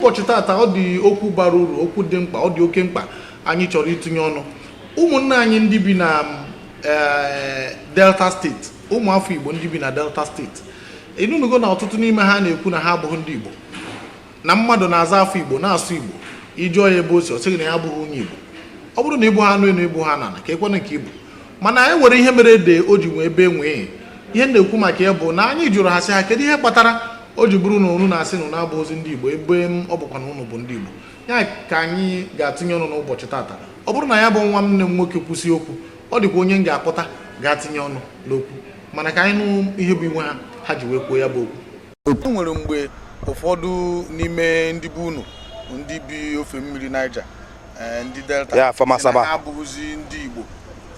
ụbọchị taata ọ dị okwu bara uru okwu dị mkpa ọ dị oke mkpa anyị chọrọ itinye ọnụ ụmụnne anyị ndị bi na eh, delta steeti ụmụafọ igbo ndị bi na delta steeti ị nụnugo na ọtụtụ n'ime ha na-ekwu na ha abụghị ndị igbo na mmadụ na-aza afa igbo na-asụ igbo ị jụọ ya ebe o si ọ sị gị na ya abụghị onye igbo ọ bụrụ na ị bụha anụ enu ị bụha anụ ana ka e kwuenụ nke ị bụ mana e nwere ihe mere ede o ji wee bee nwii ihe na-ekwu maka ya bụ na anyị jụrụ ha sị ha kedu ihe kpatara o ji bụrụ na unu na-asị na unu abụhọzi ndị Igbo ebe em, ọ bụkwa na unu bụ ndị Igbo ya ka anyị ga-atinye ọnụ n'ụbọchị taata ọ bụrụ na ya bụ nwanne m nwoke kwụsị okwu ọ dịkwa onye m ga-akpọta ga-atinye ọnụ n'okwu mana ka anyị nụ ihe bụ iwe ha ha ji wee kwuo ya bụ okwu e nwere mgbe ụfọdụ n'ime ndị bụ unu ndị bi ofe mmiri Niger eh, ndị Delta Ya, Afama sị na Asaba. ha abụghịzi ndị Igbo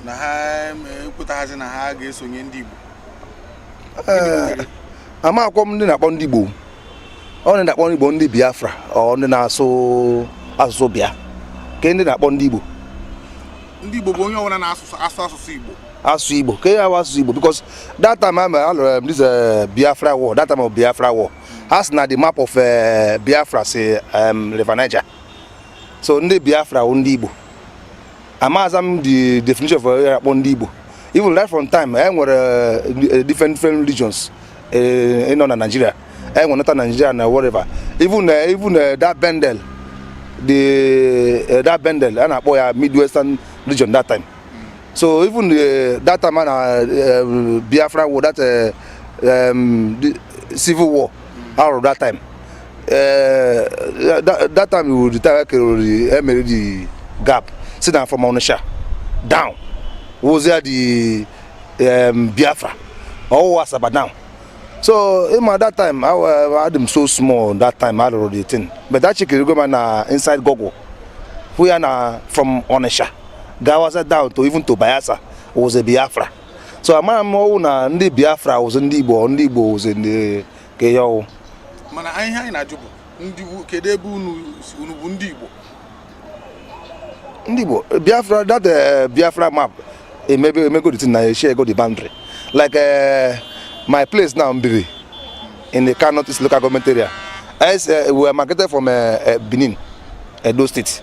na ha em, ekwetaghazi na ha ga-esonye ndị Igbo amakwọ m ndị na-akpọ ndị Igbo ọ ndị na-akpọ ndị Igbo ndị Biafra ọ ndị na-asụ asụsụ bịa ke ndị na-akpọ ndị Igbo ndị Igbo bụ onye ọbụla na-asụ asụsụ Igbo asụ Igbo ke ya asụsụ Igbo because that time a lụrụ em, this eh, Biafra war that time of Biafra war ha si na the map of eh, Biafra si River Niger so ndị Biafra wụ ndị Igbo amaza m the definition of eh, akpọ ndị Igbo even right from time e nwere eh, different different regions eh, nọ na Nigeria e nwere Northern Nigeria na whatever even even that Bendel the that Bendel a na-akpọ ya Midwestern region that time so even that time a na Biafra war that um, civil war a lụrụ that time eh, that that time we retire kerori e mere the map si na from Onitsha down wụzi the um, Biafra ọ wụha Asaba down so ịma that time I wa- adị m so small that time a lụrụ the thing but acheckirigo m ya na inside Google hụ ya na from Onitsha gawaza down to even to Bayelsa was a Biafra so amaghị m ọ wụ na ndị biafra wụzi ndị igbo ndị igbo wụzi ndị ke ihe ọ wụ mana ihe anyị na-ajụ bụ ndị kedu ebe unu bụ ndị igbo ndị igbo biafra that eh, biafra map e mebe e mego the thing na eshie ego the boundary like eh, my place now mbiri in ika north east local government area as eh, we are demarcated from benin edo state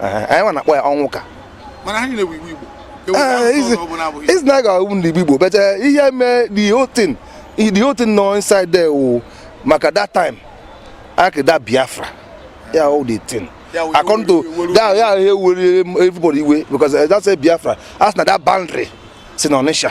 anyị nwa na-akpọ ya ọ wụ ika mana ha niile bụ igbo igbo is na ga ndị igbo but ihe mee the whole thing the whole thing nọ inside there wụ maka that time akida biafra ya all the thing according to that ya ihe were everybody iwe because that's a biafra a sị na that boundary si na ọnịsha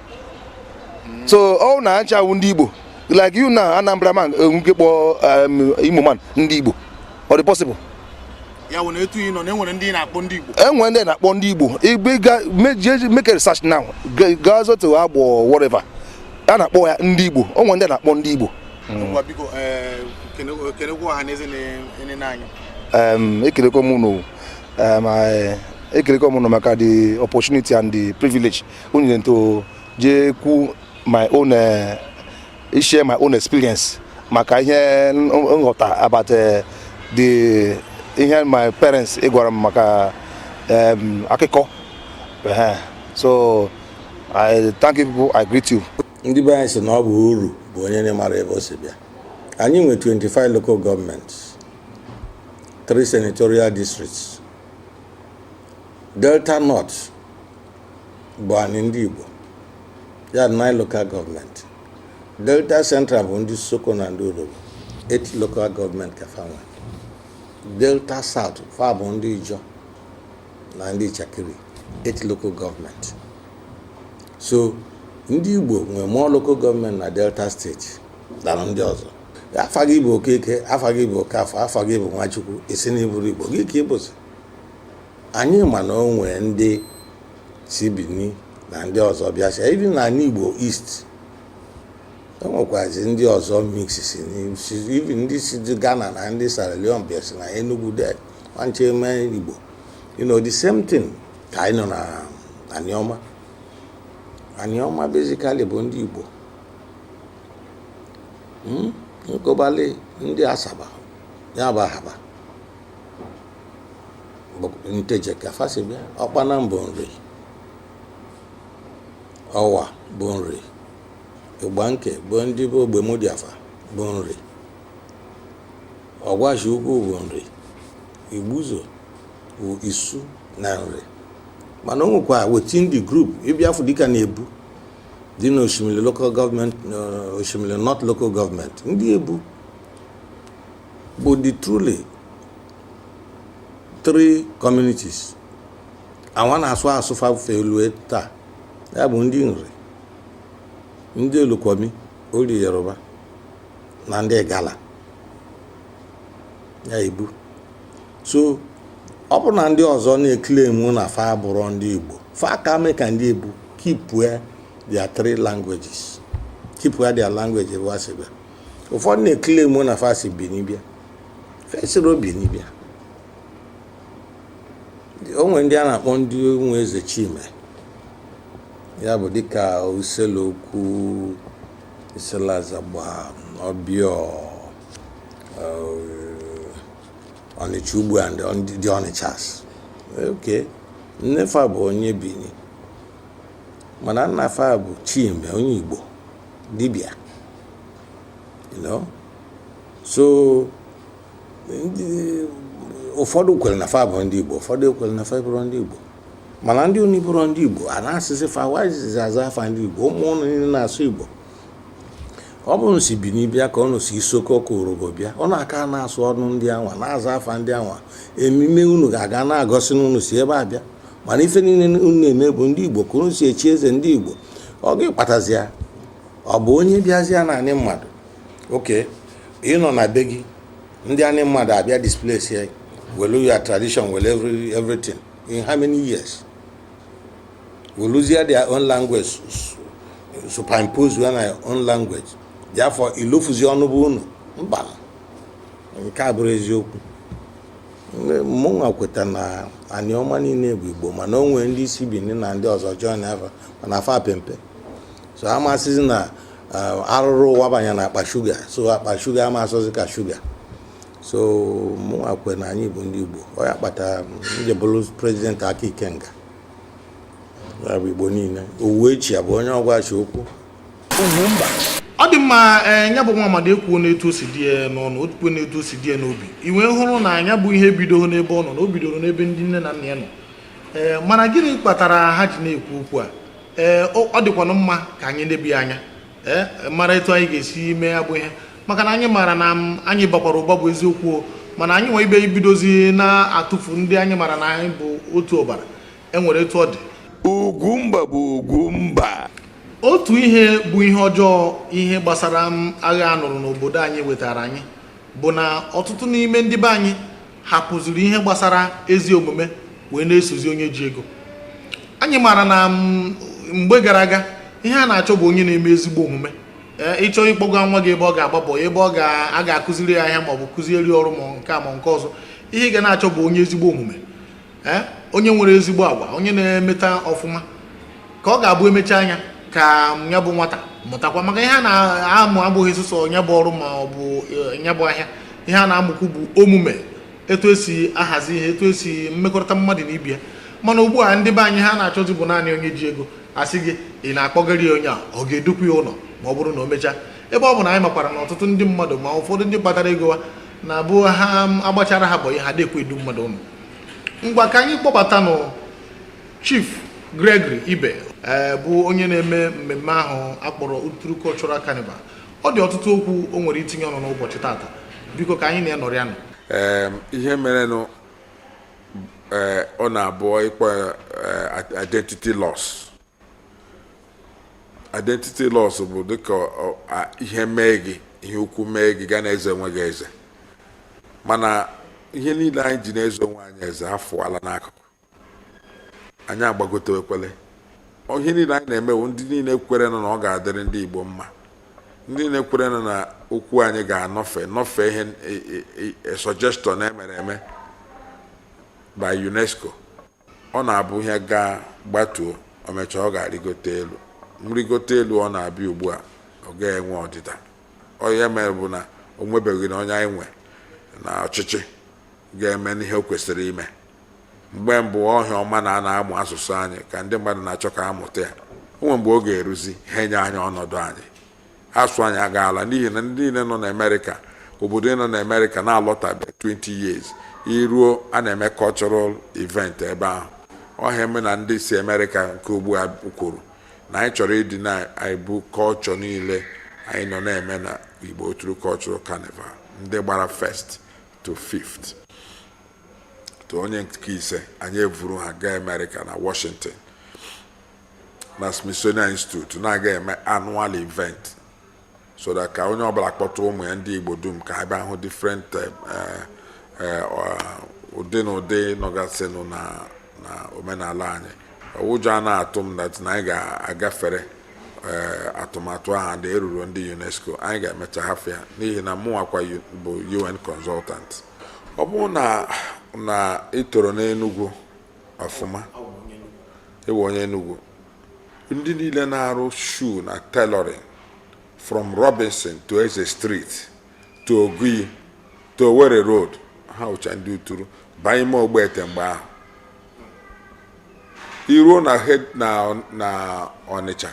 so ọ na acha awụ ndị Igbo like you na Anambra man nwee ike kpọ um, Imo man ndị Igbo ọ dị possible ya wụ na etu ị nọ na enwere ndị na-akpọ ndị Igbo enwere ndị na-akpọ ndị Igbo igbe ga make a research now gaa zote Agbọ whatever a na-akpọ ya ndị Igbo o nwere ndị na-akpọ ndị Igbo biko eh, kenekwa ọha na eze na-enene anyị ekelekwa m unu ekelekwa m unu maka the opportunity and the privilege unu nyere to jee kwu my own eh, share my own experience maka ihe n- nghọta about eh, the ihe my parents gwara m maka em, akụkọ Ehe. so i thank you people i greet you ndị be anyị sị na ọ bụ oru bụ onye na-amarọ ebe o si bịa anyị nwe 25 local gọọmenti 3 senatorial districts Delta North bụ anyị ndị Igbo ya 9 local gọọmenti Delta Central bụ ndị Isoko na ndị Urhobo 8 local gọọmenti ka fa nwe Delta South fa bụ ndị Ijọ na ndị Itsekiri 8 local gọọmenti so ndị Igbo nwe more local gọọmenti na Delta State than ndị ọzọ afa gị bụ Okeke afa gị bụ Okafọ afa gị bụ Nwachukwu ị sị na ị bụrọ Igbo gịnị ka ị bụzi Anyị ma na o nwee ndị si Bini na ndị ọzọ bịasị even n'anị Igbo East e nwekwazi ndị ọzọ mix even ndị si Ghana na ndị Sierra Leone bịasị na Enugu de nwanche eme Igbo you know the same thing ka anyị nọ na Aniọma Aniọma basically bụ ndị Igbo hmm? nkobali ndị Asaba ya bụ Ahaba Nteje ka fa si bịa Ọkpanam bụ Nri Ọwa bụ Nri Igbanke bụ ndị be Ogbemudia fa bụ Nri Ọgwashi Ukwu bụ Nri Igbuzo bụ Isu na Nri mana o nwekwa within the group ị bịa afụ dịka na Ebu dị na Oshimili local gọọmenti Oshimili North local gọọmenti ndị Ebu But the truly three communities awa na-asụ asụsụ fa wee lue taa ya bụ ndị Nri ndị Olukwumi or Yoruba na ndị Igala ya Ebu so ọ bụrụ na ndị ọzọ na-eclaim na fa abụrọ ndị Igbo fa ka mee ka ndị Ebu keepue their three languages keepue their language ebe ha si bịa ụfọdụ na-eclaim na fa si bini bịa fa esirọ bini bịa o nwere ndị a na-akpọ ndị ụmụ eze chime ya bụ dịka isele ukwu isele azagba ọbịọ ọnịcha ugbo na ndị ọnịcha sị okay nne fa bụ onye bini mana nna fa bụ chime onye igbo dibịa you know so ụfọdụ kwere na fa bụ ndị Igbo ụfọdụ ekwere na fa abụrọ ndị Igbo mana ndị unu abụrọ ndị Igbo a na-asịsị fa wazizi aza afa ndị Igbo ụmụ ụnụ niile na-asụ Igbo ọ bụrụ na ụnụ si bini bịa ka ụnụ si isoko ọ bụ urhobo bịa ụnụ aka na-asụ ọnụ ndị anwa na-aza afa ndị anwa emume unu ga na-egosi na ụnụ si ebe a bịa mana ife niile unu na-eme bụ ndị Igbo ka unu si echi eze ndị Igbo ọ gịnị kpatazi ya ọ bụ onye bịazịa na anị mmadụ okay ị nọ na be gị ndị anị mmadụ abịa displace ya welu your tradition welu every- everything in how many years weluzie their own language su- su- superimpose ya na your own language therefore i lofuzi ọnụ be unu mba nke a abụrọ eziokwu mụnwa kweta na anịọma niile bụ igbo mana o nwere ndị si bini na ndị ọzọ join fa mana fa pe mpe so ama asịzi na uh, arụrụ ụwa banye na akpa shuga so akpa shuga ama asọzi ka shuga so mụnwa kwe na anyị bụ ndị igbo ọ ya kpata m ji bụrụ president aka ikenga ya bụ igbo niile uwechue bụ onye ọgwashi ukwu ọ dị mma eh, ya bụ nwa amadi ekwuo n'etu o si dị ya n'ọnụ o kwuo n'etu o si dị ya n'obi i wee hụrụ na ya bụ ihe ebidorọ n'ebe ọ nọ na o bidoro n'ebe ndị nne na nna ya nọ ee eh, mana gịnị kpatara ha ji na-ekwu okwu a ee eh, ọ dịkwanụ mma ka anyị neba anya ee mara etu anyị ga-esi mee ya bụ ihe maka na anyị maara na anyị bakwara ụba bụ eziokwu mana anyị nwe ibe ibidozi na-atụfu ndị anyị maara na anyị bụ otu ọbara e nwere etu ọ dị Ugwumba bụ Ugwumba otu ihe bụ ihe ọjọọ ihe gbasara agha a nụrụ n'obodo anyị wetara anyị bụ na ọtụtụ n'ime ndị be anyị hapụziri ihe gbasara ezi omume wee na-esozi onye ji ego anyị maara na mgbe gara aga ihe a na-achọ bụ onye na-eme ezigbo omume Eh, ị chọọ ịkpọga nwa gị ebe ọ ga-agba boy ebe a ga-akụziri ya ahịa maọbụ kụziere ya ọrụ ma nke a ma nke ọzọ ihe ị ga na-achọ bụ onye ezigbo omume eh, onye nwere ezigbo agwa onye na-emeta ọfụma ka ọ ga-abụ emecha anya ka ya bụ nwata mụtakwa maka ihe a na-amụ abụghị sọsọ nya bụ ọrụ ma ọ bụ eh, ya bụ ahịa ihe a na-amụkwu bụ omume etu esi ahazi ihe etu esi mmekọrịta mmadụ na ibe ya mana ugbu a ndị be anyị ihe ha na-achọzi bụ naanị onye ji ego a sị gị ị na-akpọgara ya onye ọ ga-edukwu ya ụnọ ma ọ bụrụ na o mechaa ebe ọ bụ na anyị makwara na ọtụtụ ndị mmadụ ma ụfọdụ ndị kpatara ego ha na-abụ ha agbachara ha bọyị ha adị ekwe edu mmadụ ụnọ ngwa ka anyị kpọbatanụ chief gregory ibe eh, bụ onye na-eme mmemme ahụ a kpọrọ Uturu Cultural Carnival ọ dị ọtụtụ okwu o nwere itinye ọnụ n'ụbọchị tata biko ka anyị na ya nọrịanụ ihe merenụ eh, ọ na-abụ ị kpọọ eh, identity loss identity loss bụ dịka ihe mee gị ihe ukwu mee gị ga na-eze onwe gị eze mana ihe niile anyị ji na-eze onwe anyị eze afụala n'akụkụ anyị agbagotekwela ihe niile anyị na-eme wụ ndị niile kwerenụ na ọ ga-adịrị ndị Igbo mma ndị niile kwerenụ na okwu anyị ga-anọfe nọfe ihe e, e, e, suggestion e mere eme by UNESCO ọ na-abụ ihe gaa gbatuo o mechaa ọ ga-arịgote elu nrịgote elu ọ na-abịa ugbu a ọ gaghị enwe ọdịda ọ nya mere bụ na o nwebeghị na onye anyị nwe n'ọchịchị ga-emenụ ihe o kwesịrị ime mgbe mbụ ọ ihe ọma na a na-amụ asụsụ anyị ka ndị mmadụ na-achọ ka a mụta ya o nwere mgbe ọ ga-eruzi ha enye anyị ọnọdụ anyị asụ anyị agaala n'ihi na ndị niile nọ n'amerịka obodo nọ n'amerịka na-alọtabe 20 years i ruo a na-eme cultural event ebe ahụ ọ ihe a mere na ndị si amerịka nke ugbu a kwuru na anyị chọrọ ịdị na-ebu kọlchọ niile anyị nọ na-eme na igbo uturu cultural carnival ndị gbara first to fifth to onye nke ise anyị evuru ha gaa amerịka na washington na Smithsonian Institute na-aga eme annual event so that ka onye ọbụla kpọta ụmụ ya ndị Igbo dum ka ha bịa hụ different eh, eh, ụdị na ụdị nọgasịnụ na omenala anyị ụjọ anaa atụ m that na anyị ga-agafere eh, atụmatụ ahụ ndị eruru ndị UNESCO anyị ga-emecha hafụ ya n'ihi na mụnwakwa bụ UN consultant ọ bụrụ na na i toro n'Enugu ọfụma ị wụ onye Enugu ndị niile na-arụ shu na tailoring from Robinson to Eze Street to Ogui to Owerri Road ha wụcha ndị uturu baa ime ogbete mgbe ahụ i ruo na na Ọnịcha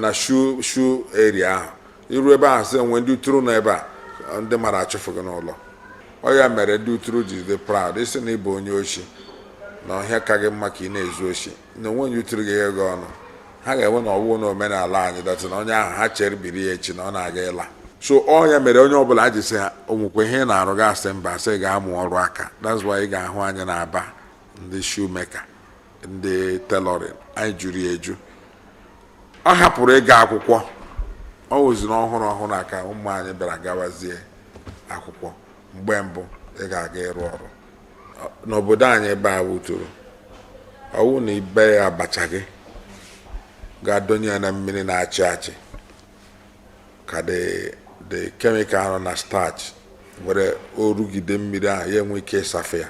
na shu shu area ahụ iru ebe ahụ sị enwe ndị uturu nọ ebe a ndị mara achụfụ gị n'ụlọ ọ ya mere ndị uturu ji dị proud ịsị na ịbụ onye oshi na ọhịa ka gị mma ka ị na-ezu oshi na onwe onye uturu gị ego ọnụ ha ga-enwe na ọwụwa na omenala anyị datị na onye ahụ ha chere biri ya echi na ọ na-aga ịla so ọ ya mere onye ọbụla a ji sị ha onwekwa ihe ị na-arụ gị sị mba sị gaa mụọ ọrụ aka that's why ị ga-ahụ anyị na Aba ndị shoemaker ndị tailoring anyị juru ya eju ọ hapụrụ ịga akwụkwọ ọ wụziri ọhụrụ ọhụrụ a ka ụmụ anyị bịara gawazie akwụkwọ mgbe mbụ ị ga-aga ịrụ ọrụ Ọ- n'obodo anyị ebe a wụ uturu ọwụ na ị bee abacha gị gaa donye ya na mmiri na-achị achị ka the chemical nọ na starch were orugide mmiri ahụ ya enwe ike ịsafe ya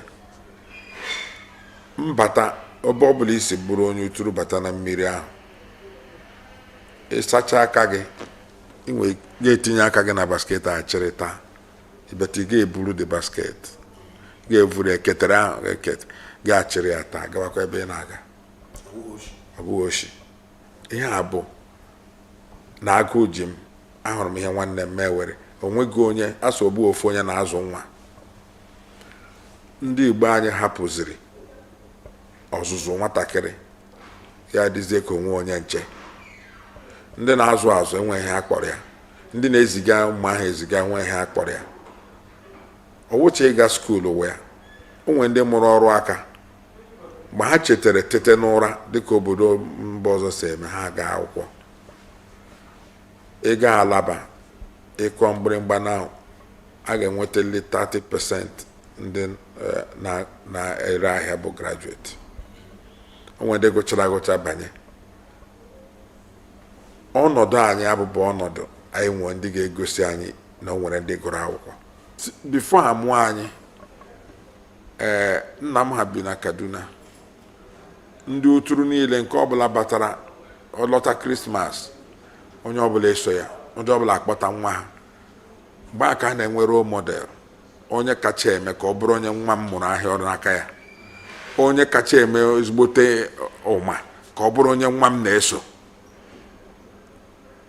mbata ebe ọ bụla isi bụrụ onye uturu bata na mmiri ahụ ịsacha aka gị ị wee gaa tinye aka gị na basket a chịrị taa ibeta ị ga-eburu the basket ga-evuru eketere ahụ ga-achịrị ya taa gawakwa ebe ị na-aga ọ bụghị oshi ihe a bụ na agụụ ji m ahụrụ m ihe nwanne m mewere onweghị onye asị ọ bụghị ofu onye na-azụ nwa ndị Igbo anyị hapụziri ọzụzụ nwatakịrị ya dịzie ka onwe onye nche ndị na-azụ azụ e nwe ihe a kpọrọ ya ndị na-eziga ụmụ ha eziga e nwe ihe a kpọrọ ya ọ wụcha ịga school wụ ya onwe ndị mụrụ ọrụ aka mgbe ha chetara tete n'ụra dịka obodo mba ọzọ si eme ha gaa akwụkwọ ị gaa Alaba ị kụọ mgbịrịmgba na a ga-enwetalị 30 percent ndị eh, na- na-ere ahịa bụ graduate o nwere ndị gụchara agụcha banye ọnọdụ anyị abụbụ ọnọdụ anyị nwere ndị ga-egosi anyị na o nwere ndị gụrụ akwụkwọ S- before ha mụọ anyị ee nna m ha bi na kaduna ndị uturu niile nke ọbụla batara ọ lọta krismas onye ọbụla eso ya onye ọbụla akpọta nwa ha mgbe a ka a na-enwe role model onye kacha eme ka ọ bụrụ onye nwa m mụrụ ahịa ọrụ n'aka ya onye kacha eme ezigbote ụma ka ọ bụrụ onye nwa m na-eso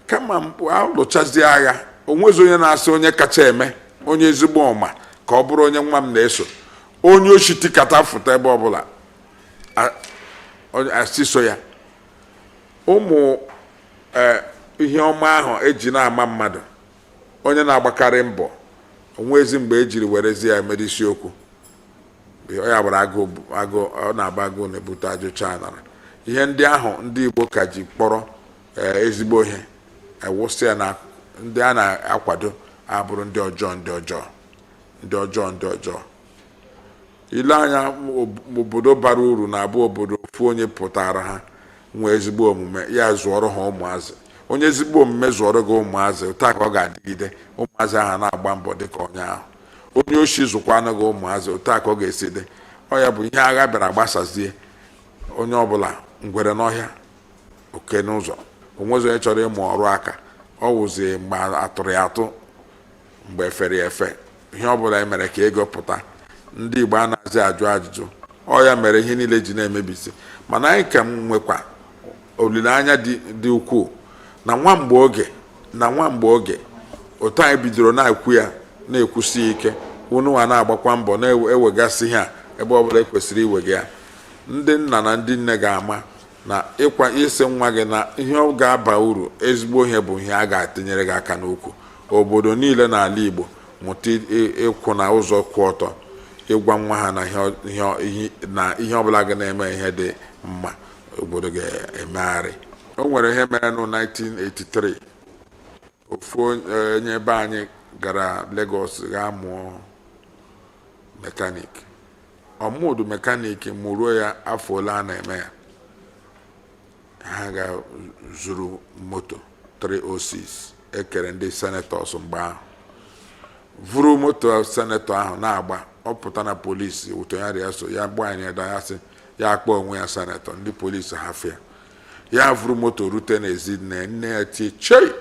kama mgbe alụchazie agha onwezi onye na-asị onye kacha eme onye ezigbo ụma ka ọ bụrụ onye nwa m na-eso onye oshi tikata fụta ebe ọbụla a- onye- asị so ya ụmụ eh, ihe ọma ahụ eji na-ama mmadụ onye na-agbakarị mbọ onwezi mgbe ejiri werezi ya mere isiokwu ya gbara agụụ ọ na-agba agụụ na-ebute ajụcha anara ihe ndị ahụ ndị Igbo ka ji kpọrọ eh, ezigbo ihe ewụsị ya na ndị a na-akwado abụrụ ndị ọjọọ ndị ọjọọ ndị ọjọọ ndị ọjọọ ile anya obodo bara uru na-abụ obodo ofu onye pụtara ha nwee ezigbo omume ya zụọrọ ha ụmụazị onye ezigbo omume zụọrọ gị ụmụazị otu a ka ọ ga-adịgide ụmụazị ahụ na-agba mbọ dịka onye ahụ onye oshi zụkwanụ gị ụmụazị otu a ka ọ ga-esi dị ọ ya bụ ihe agha bịara gbasazie onye ọbụla ngwere n'ọhịa oke n'ụzọ onwezi onye chọrọ ịmụ ọrụ aka ọ wụzi mgbe atụrụ ya atụ mgbe efere ya efe ihe ọ bụla emere ka ego pụta ndị Igbo anazị ajụ ajụjụ ọ ya mere ihe niile ji na-emebisi mana anyị ka nwekwa olileanya dị ukwuu na nwa na nwa mgbe oge otu anyị bidoro na-ekwu ya na-ekwusi ya ike ununwa na-agbakwa mbọ na-ewegasị ihe a ebe ọ bụla ekwesịrị iwega ya ndị nna na ndị nne ga-ama na ịgwa ịsị nwa gị na ihe ọ ga-aba uru ezigbo ihe bụ ihe a ga-atinyere gị aka n'ukwu Obodo niile n'ala Igbo mụta ịkwụ na ụzọ kwụ ọtọ ịgwa nwa ha na ihe ọbụla ga na-eme ihe dị mma obodo ga-emegharị o nwere ihe mere na 1983 ofu onye be anyị gara Lagos gaa mụọ mekanik ọ mụdụ mekanik mụruo ya afọ ole a na-eme ya ha ga zuru moto 306 ekere ndị senetọs mgbe ahụ vuru moto senetọ ahụ na-agba ọ pụta na polisi otu enyi ya rị ya so ya gba anyị da ya sị ya akpọ onwe ya senetọ ndị polisi hafụ ya vuru moto rute n'ezi nne nne ya tie chei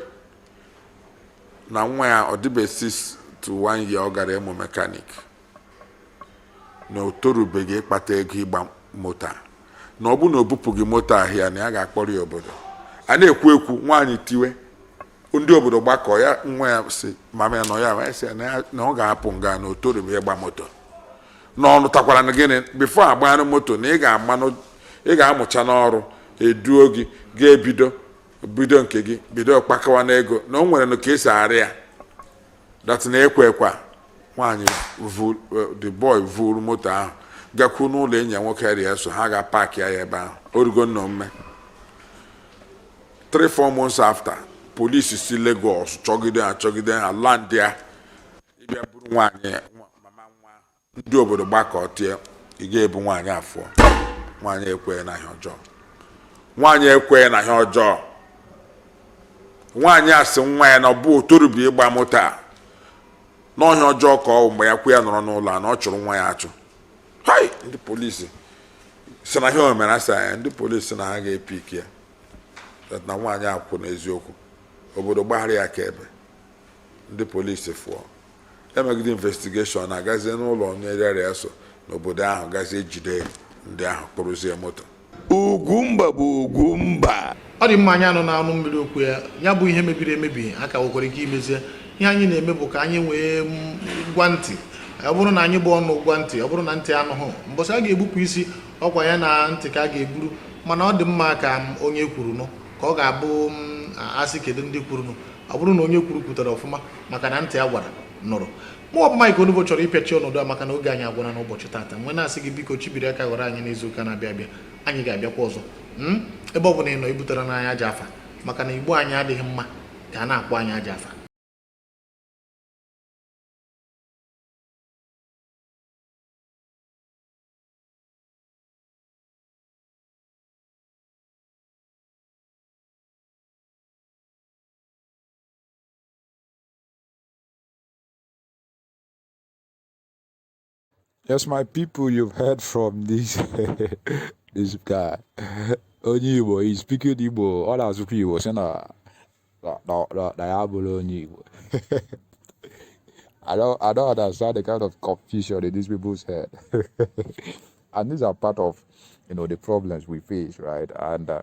na nwa ya ọ dịbe 6 to 1 year ọ gara ịmụ mekanik na o torubeghị ịkpata ego ịgba moto a na ọ bụrụ na o bupụghị moto a here na ya ga-akpọrọ ya obodo a na-ekwu ekwu nwaanyị tiwe ndị obodo gbakọ ya nwa ya si mama ya nọ ya wee sị ya na ya- na ọ ga-apụ nga na o torubeghị ịgba moto na ọ nụtakwara na gịnị before agbaa nụ moto na ị ga-amanụ ị ga-amụcha n'ọrụ eduo gị ị ga-ebido bido nke gị bido kpakawa n'ego na o nwere nụ ka esi arị ya that na ekwe ekwa nwaanyị vu- eh, the boy vuru moto ahụ gakwuo n'ụlọ enyi ya nwoke ya rị ya so ha ga park ya ebe ahụ orugo nnọọ mme three four months after polisi si Lagos chọgide ha chọgide ha landịa ịbịa buru nwaanyị nwa- mama nwa ahụ ndị obodo gbakọ tie ị ga-ebu nwaanyị afụọ nwaanyị ekweghị na ihe ọjọọ nwaanyị ekweghị na ihe ọjọọ nwaanyị asị nwa ya na ọ bụ otorubi ịgba moto a n'ọhịa ọjọọ ka ọ mgbe ya kwu ya nọrọ n'ụlọ and ọ chụrụ nwa ya achụ hai ndị polisi sị na ihe o mere asị anya ndị polisi na ha ga-epick ya na nwaanyị akwụ n'eziokwu obodo gbaghara ya ka ebe ndị polisi fụọ ya megide investigation agazie n'ụlọ onye rịara ya so n'obodo ahụ gazie jide ndị ahụ kpụrụzie moto Ugwumba bụ Ugwumba ọ dị mma anyị anụna ọnụ mmiri okwu ya ya bụ ihe mebiri emebi a ka nwekwara ike imezie ihe anyị na-eme bụ ka anyị wee gwa ntị ọ bụrụ na anyị bụ ọnụ gwa ntị ọ bụrụ na ntị anụghị mbọsị a ga-egbupụ isi ọkwa ya na ntị ka a ga-egburu mana ọ dị mma ka onye kwuru nụ ka ọ ga-abụ ma a sị kedu ndị kwuru nụ ọ bụrụ na onye kwuru kwutere ọfụma maka na ntị a gwara nụrụ mụ ọbụma Igbonubo chọrọ ịpịachi ọnọdụ a maka na oge anyị agwụla n'ụbọchị tata m wee na-asị gị biko chibiri aka ghọrọ anyị n'izu ụka na-abịa abịa anyị ga-abịakwa ọzọ hmm? ebe ọ bụla ị nọ ebutarana anyị ajọ afa maka na Igbo anyị adịghị mma ka a na-akpọ anyị ajọ afa Yes, my people, you've heard from this this guy. Onye Igbo, he's speaking Igbo. Ọ na-asụkwa Igbo sị na na ya abụrọ onye Igbo. I don't, I don't understand the kind of confusion in these people's head. and these are part of, you know, the problems we face, right? And uh,